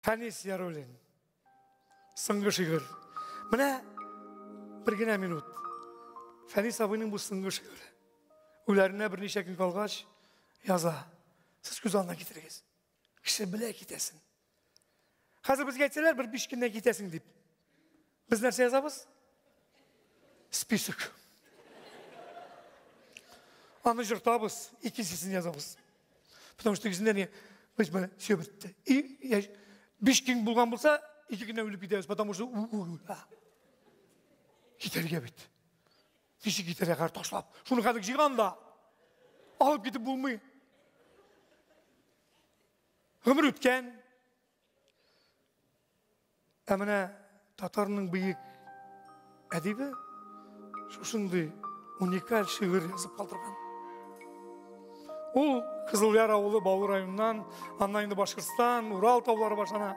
Фәнис Ярулин. Сыңгы шигырь. Менә бер генә минут. Фәнис абыйның бу сыңгы шигыре. Үләренә берничә көн калгач яза. Сез күз алдына китерегез. Кеше белә китәсен. Хәзер безгә әйтсәләр, бер биш көннән китәсең дип. Без нәрсә язабыз? Список. Аны жыртабыз, икенчесен язабыз. Потому что икесендә не без менә все бетте. И я биш кин булган булса, ике генә үлеп китәбез, потому что китәргә бит. Ничек китәргә хәр ташлап? Шуны хәзер җыйган да. Алып китеп булмый. Гомер үткән, Ә менә татарның бөек әдибе шушындый уникаль шигырь язып калдырган. Ул Кызылъяр авылы Баулы районыннан, аннан инде Башкортстан, Урал таулары башлана.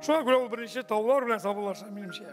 Шуңа күрә ул беренче таулар белән сабылаша, минемчә.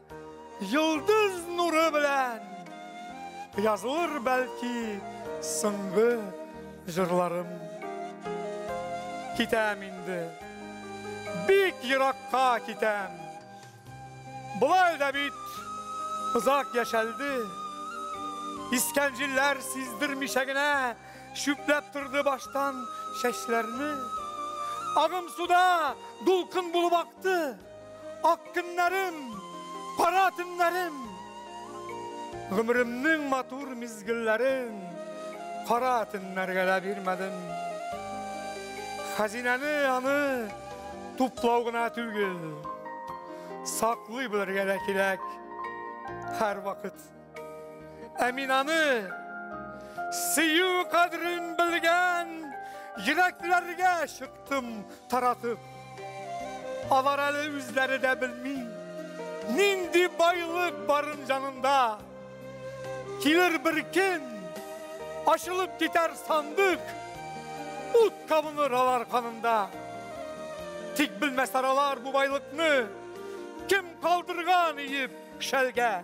Йолдыз нуры белән язылыр бәлки соңгы җырларым. Китәм инде. Бик еракка китәм. Болай да бит озак яшәлде. Искән җилләр сиздермичә генә чүпләп торды баштан чәчләрне. Агым суда дулкын булып Ятты ак көннәрем, кара төннәрем, гомеремнең матур мизгелләрен кара төннәргә дә бирмәдем. Хәзинәне аны туплау гына түгел, саклый белергә дә кирәк һәр вакыт. Ә мин аны сөю кадерен белгән йөрәкләргә чыктым таратып. Алар әле үзләре дә белми, нинди байлык барын җанында. Килер бер көн, ашылып китәр сандык, ут кабыныр алар канында. Тик белмәсәр алар бу байлыкны, кем калдырган иеп шәлгә.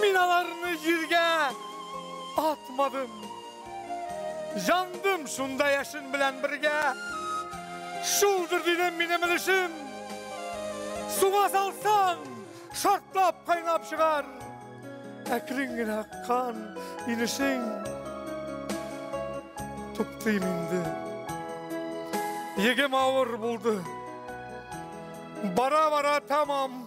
Миналарны җиргә атмадым. Жандым шунда яшен белән бергә. Шулдыр дидем минем өлешем. Суга салсаң, шартлап кайнап чыгар. Әкрен генә аккан инешең. Туктыйм инде. Егем авыр булды. Бара-бара тамам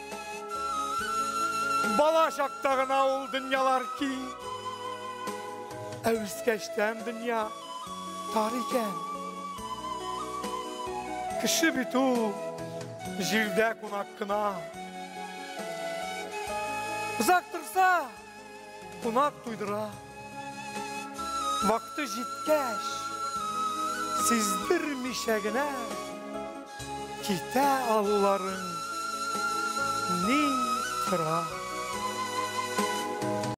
Бала чакта гына ул дөньялар киң. Ә үскәчтән дөнья тар икән. Кеше бит ул җирдә кунак кына. Озак торса, Кунак туйдыра. Вакыты җиткәч, сиздермичә генә китә алуларын ни тора.